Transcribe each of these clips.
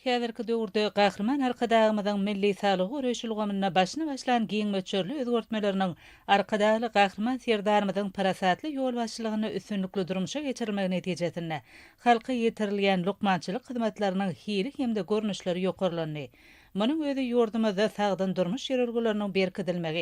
Häzirki döwürde Gahryman Arkadagymyzyň milli saglygy goraýyş ulgamynda başyny başlan giň möçberli özgertmeleriniň Arkadagly Gahryman Serdarymyzyň parasatly ýolbaşçylygynda üstünlikli durmuşa geçirilmegi netijesinde halka ýetirilýän lukmançylyk hyzmatlarynyň hili hem-de görnüşleri ýokarlandy. Munuň özi ýurdumyzda sagdyn durmuş ýörelgeleriniň berkidilmegi,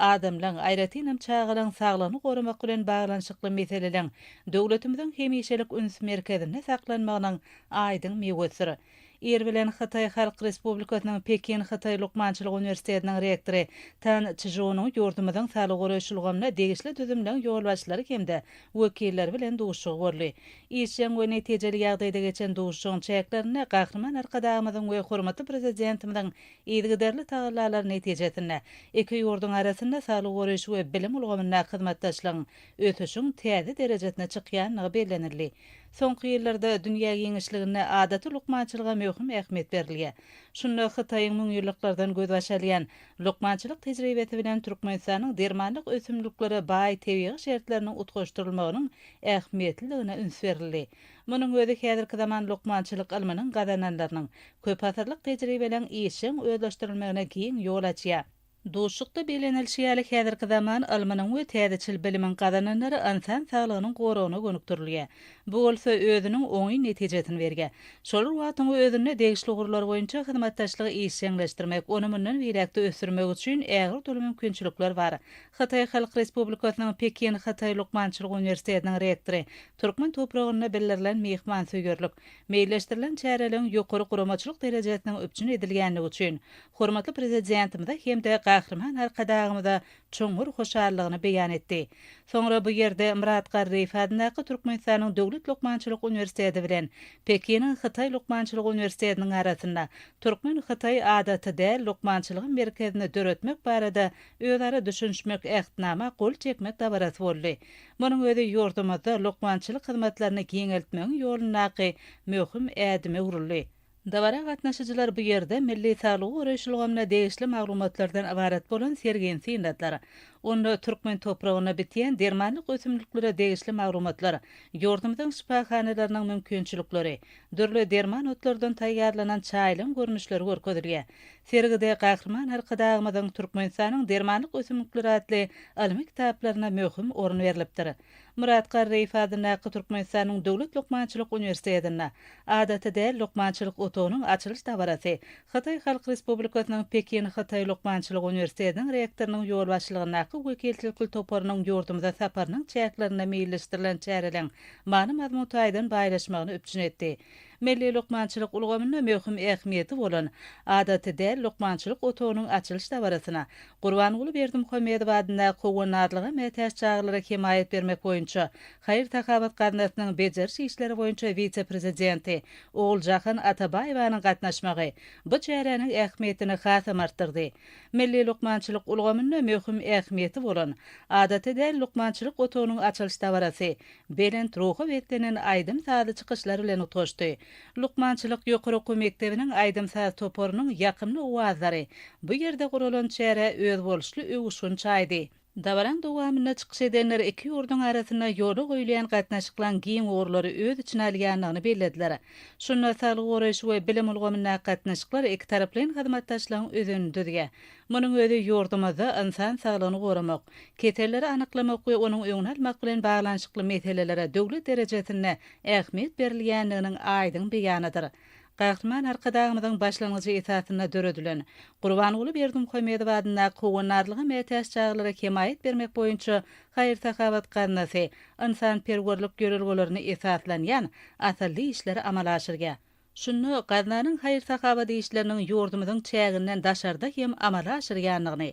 adamlaň, aýratynam çagalaň saglygyny goramak bilen baglanyşykly meseleleň döwletimiziň hemişelik üns merkezinde saklanmagynyň Aýdyň miwesdir. Ir bilen Hytaý Halk Respublikasynyň Pekin Hytaý lukmançylyk uniwersitetiniň rektory Tan Çžunyň ýurdumyzyň saglygy goraýyş ulgamyna degişli düzümleň ýolbaşçylary hem-de wekilleri bilen duşuşygy boldy. Işjeň we netijeli ýagdaýda geçen duşuşygyň çäklerinde Gahryman Arkadagymyzyň we hormatly Prezidentimiziň yzygiderli tagallalary netijesinde iki ýurduň arasynda saglygy goraýyş we bilim ulgamyndaky hyzmatdaşlygyň ösüşiň täze derejesine çykýandygy bellenildi. Soňky ýyllarda dünýä giňişliginde adaty lukmançylyga möhüm ähmiýet berilýär. Şunda Hytaýyň müňýyllyklardan gözbaş alýan lukmançylyk tejribesi bilen Türkmenistanyň dermanlyk ösümliklere baý tebigy şertleriniň utgaşdyrylmagynyň ähmiýetliligine üns berildi. Munuň özi häzirki zaman lukmançylyk ylmynyň gazananlarynyň, köpasyrlyk tejribeleň işjeň özleşdirilmegine giň ýol açýar. Duşuşykda bellenilişi ýaly, häzirki zaman ylmynyň we täzeçil bilimiň gazananlary ynsan saglygynyň goragyna gönükdirilýär. Bu bolsa özüniň oňyn netijesini berýär. Şolar wagtyň özünde degişli ugurlar boýunça hyzmatdaşlygy işjeňleşdirmek, ony mundan beýläk-de ösdürmek üçin ägirt uly mümkinçilikler bar. Hytaý Halk Respublikasynyň Pekin Hytaý lukmançylyk uniwersitetiniň rektory türkmen topragynda bildirilen myhmansöýerlik, meýilleşdirilen çäreleriň ýokary guramaçylyk derejesiniň üpjün edilýänligi üçin hormatly Prezidentimize hem-de Gahryman Arkadagymyza çuňňur hoşallygyny beýan etdi. Soňra bu ýerde Myrat Garryýew adyndaky Türkmenistanyň Döwlet lukmançylyk uniwersiteti bilen Pekiniň Hytaý lukmançylyk uniwersitetiniň arasynda Türkmen-hytaý adaty däl lukmançylygy merkezini döretmek barada özara düşünişmek Ähtnama gol çekmek dabarasy boldy. Munuň özi ýurdumyzda lukmançylyk hyzmatlaryny giňeltmegiň ýolundaky möhüm ädime öwrüldi. Dabara gatnaşyjylar bu ýerde milli saglygy goraýyş ulgamyna degişli maglumatlardan ybarat bolan sergini synladylar. Onda türkmen topragynda bitýän dermanlyk ösümliklere degişli maglumatlar, ýurdumyzyň şypahanalarynyň mümkinçilikleri, dürli derman otlardan taýýarlanan çaýlaryň görnüşleri görkezilýär. Sergide Gahryman Arkadagymyzyň Türkmenistanyň dermanlyk ösümlikleri atly ylmy kitaplaryna möhüm orun berlipdir. Myrat Garryýew adyndaky Türkmenistanyň Döwlet lukmançylyk uniwersitetinde Adaty däl lukmançylyk otagynyň açylyş dabarasy Hytaý Halk Respublikasynyň Pekin Hytaý lukmançylyk uniwersitetiniň rektorynyň ýolbaşçylygyndaky wekilçilikli toparynyň ýurdumyza saparynyň çäklerinde meýilleşdirilen çäreleň many-mazmun taýdan baýlaşmagyny üpjün etdi. Milli lukmançylyk ulgamynda möhüm ähmiýeti bolan Adaty däl lukmançylyk otagynyň açylyş dabarasyna Gurbanguly Berdimuhamedow adyndaky Howandarlyga mätäç çagalara hemaýat bermek boýunça haýyr-sahawat gaznasynyň bejeriş işleri boýunça wise-prezidenti Oguljahan Atabaýewanyň gatnaşmagy bu çäräniň ähmiýetini hasam artdyrdy. Milli lukmançylyk ulgamynda möhüm ähmiýeti bolan Adaty däl lukmançylyk otagynyň açylyş dabarasy belent ruha beslenen aýdym-sazly çykyşlar bilen utgaşdy. Lukmançylyk ýokary okuw mekdebiniň aýdym-saz toparynyň ýakymly owazlary bu ýerde guralan çärä özboluşly öwüşgin çaýdy. Dabaranyň dowamynda çykyş edenler iki ýurduň arasynda ýola goýulýan gatnaşyklaryň giň ugurlary öz içine alýandygyny bellediler. Şunda saglygy goraýyş we bilim ulgamyndaky gatnaşyklar ikitaraplaýyn hyzmatdaşlygyň özenini düzýär. Munuň özi ýurdumyzda ynsan saglygyny goramak, keselleri anyklamak we onuň öňüni almak bilen baglanyşykly meselelere döwlet derejesinde ähmiýet berilýändiginiň aýdyň beýanydyr. Gahryman Arkadagymyzyň başlangyjy esasynda döredilen Gurbanguly Berdimuhamedow adyndaky Howandarlyga mätäç çagalara hemaýat bermek boýunça haýyr-sahawat gaznasy ynsanperwerlik ýörelgelerine esaslanýan asylly işleri amala aşyrýar. Şunda gaznanyň haýyr-sahawat işleriniň ýurdumyzyň çäginden daşarda hem amala aşyrýandygyny,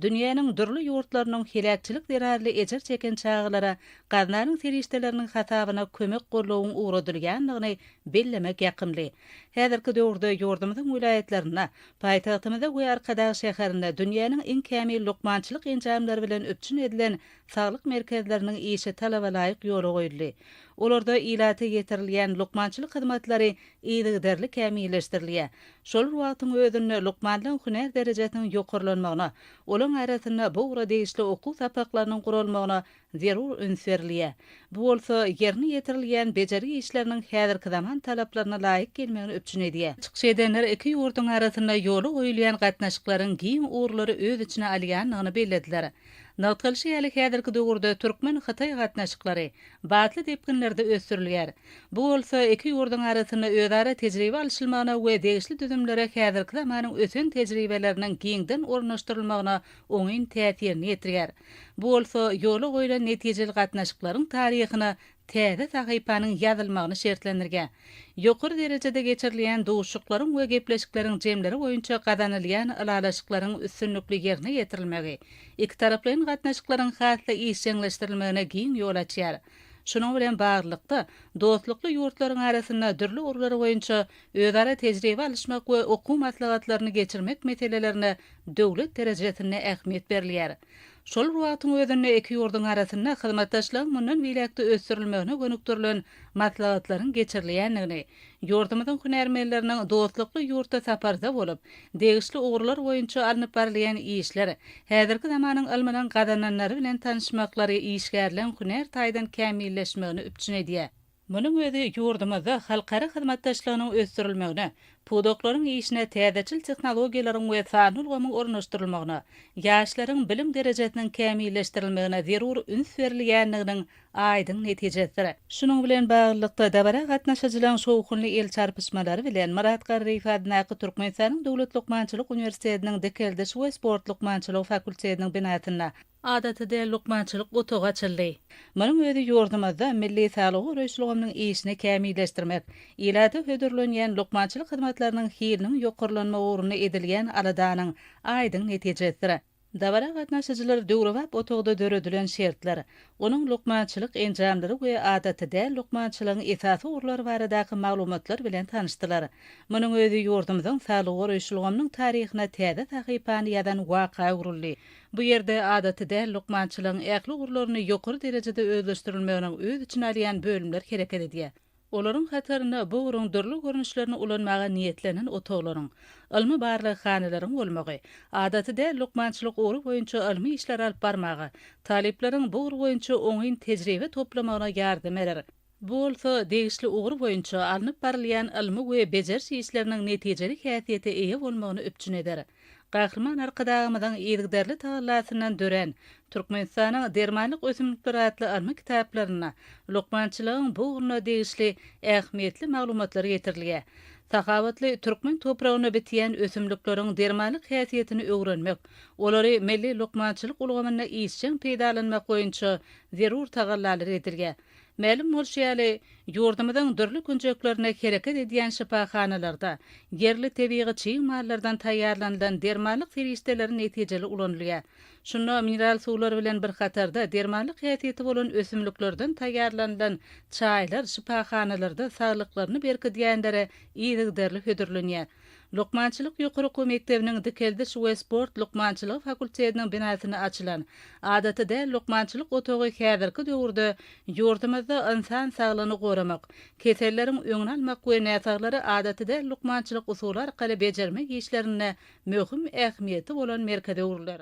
dünýäniň dürli ýurtlarynyň heläkçilik zerarly ejir çeken çagalara gaznanyň serişdeleriniň hasabyna kömek-goldawyň ugradylýandygyny bellemek ýakymly. Häzirki döwürde ýurdumyzyň welaýatlarynda, paýtagtymyzda we Arkadag şäherinde dünýäniň iň kämil lukmançylyk enjamlary bilen üpjün edilen Saglyk merkezleriniň işi talabalaýyk ýola goýuldy. Olarda ilata ýetirilýän lukmançylyk hyzmatlary yzygiderli kämilleşdirilýär. Şol bir wagtyň özünde lukmanlaryň hünär derejesiniň ýokarlanmagyna, olaryň arasynda bu ugra degişli okuw sapaklarynyň guralmagyna zerur üns berilýär. Bu bolsa ýerine ýetirilýän bejergi işleriniň häzirki zaman talaplaryna laýyk gelmegini üpjün edýär. Çykyş edenler iki ýurduň arasynda ýola goýulýan gatnaşyklaryň giň ugurlary öz içine alýandygyny bellediler. Nygtalyşy ýaly, häzirki döwürde türkmen-hytaý gatnaşyklary batly depginlerde ösdürilýär. Bu bolsa iki ýurduň arasynda özara tejribe alşylmagyna we degişli düzümlere häzirki zamanyň ösen tejribeleriniň giňden ornaşdyrylmagyna oňyn täsirini ýetirýär. Bu bolsa ýola goýlan netijeli gatnaşyklaryň taryhyna täze sahypanyň ýazylmagyny şertlendirge, ýokary derejede geçirilýän duşuşyklaryň we gepleşikleriň jemleri boýunça gazanylýan ylalaşyklaryň üstünlikli ýerine ýetirilmegi ikitaraplaýyn gatnaşyklaryň has-da işjeňleşdirilmegine giň ýol açýar, şunuň bilen baglylykda, dostlukly ýurtlaryň arasynda dürli ugurlar boýunça özara tejribe alyşmak we okuw maslahatlaryny geçirmek meselelerine döwlet derejesinde ähmiýet berilýär. Şol bir wagtyň özünde iki ýurduň arasynda hyzmatdaşlygyň mundan beýläk-de ösdürilmegine gönükdirilen maslahatlaryň geçirilýändigini, ýurdumyzyň hünärmenleriniň dostlukly ýurtda saparda bolup, degişli ugurlar boýunça alnyp barylýan işler, häzirki zamanyň ylmynyň gazananlary bilen tanyşmaklary işgärleň hünär taýdan kämilleşmegini üpjün edýär. Munuň özi ýurdumyzda halkara hyzmatdaşlygynyň ösdürilmegine, pudaklaryň işine täzeçil tehnologiýalaryň we sanly ulgamyň ornaşdyrylmagyna, ýaşlaryň bilim derejesiniň kämilleşdirilmegine zerur üns berilýändiginiň aýdyň netijesidir. Şunuň bilen baglylykda, dabara gatnaşyjylaryň şowhunly el çarpyşmalary bilen Myrat Garryýew adyndaky Türkmenistanyň Döwlet lukmançylyk uniwersitetiniň Dikeldiş we sport lukmançylygy fakultetiniň binasynda Adaty däl lukmançylyk otagy açyldy. Munuň özi ýurdumyzda milli saglygy goraýyş ulgamynyň işini kämilleşdirmek, ilata hödürlenýän lukmançylyk hyzmatlarynyň hiliniň ýokarlanmagy ugrunda edilýän aladanyň aýdyň netijesidir. Dabara gatnaşyjylar döwrebap otagda döredilen şertler, onuň lukmançylyk enjamlary we adaty däl lukmançylygyň esasy ugurlary baradaky maglumatlar bilen tanyşdylar. Munuň özi ýurdumyzyň saglygy goraýyş ulgamynyň taryhyna täze sahypany ýazan waka öwrüldi. Bu ýerde adaty däl lukmançylygyň ähli ugurlaryny ýokary derejede özleşdirilmeginiň öz içine alýan bölümler hereket edýär. Olaryň hatarynda bu ugruň dürli görnüşlerini ulanmaga niýetlenen otaglaryň, ylmy barlaghanalaryň bolmagy, adaty däl lukmançylyk ugry boýunça ylmy işleri alyp barmaga, talyplaryň bu ugur boýunça oňyn tejribe toplamagyna ýardam berer. Bu bolsa degişli ugur boýunça alnyp barylýan ylmy we bejeriş işleriniň netijeli häsiýete eýe bolmagyny üpjün eder. Gahryman Arkadagymyzyň yzygiderli tagallasyndan dörän Türkmenistanyň dermanlyk ösümlikleri atly ylmy kitaplarynda lukmançylygyň bu ugruna degişli ähmiýetli maglumatlar getirilýär. Sahawatly türkmen topragynda bitýän ösümlikleriň dermanlyk häsiýetini öwrenmek, olary milli lukmançylyk ulgamynda işjeň peýdalanmak boýunça zerur tagallalar edilýär. Mälim bolşy ýaly, ýurdumyzyň dürli künjeklerinde hereket edýän şypahanalarda ýerli tebigy çig mallardan taýýarlanylan dermanlyk serişdeleri netijeli ulanylýar. Şunda mineral suwlar bilen bir hatarda dermanlyk häsiýeti bolan ösümliklerden taýýarlanylan çaýlar şypahanalarda saglyklaryny berkidýänlere yzygiderli hödürlenýär. Lukmançylyk ýokary okuw mekdebiniň Dikeldiş we sport lukmançylygy fakultetiniň binasynda açylan Adaty däl lukmançylyk otagy häzirki döwürde ýurdumyzda ynsan saglygyny goramak, keselleriň öňüni almak we näsaglary adaty däl lukmançylyk usuly arkaly bejermek işlerinde möhüm ähmiýeti bolan merkeze öwrüler.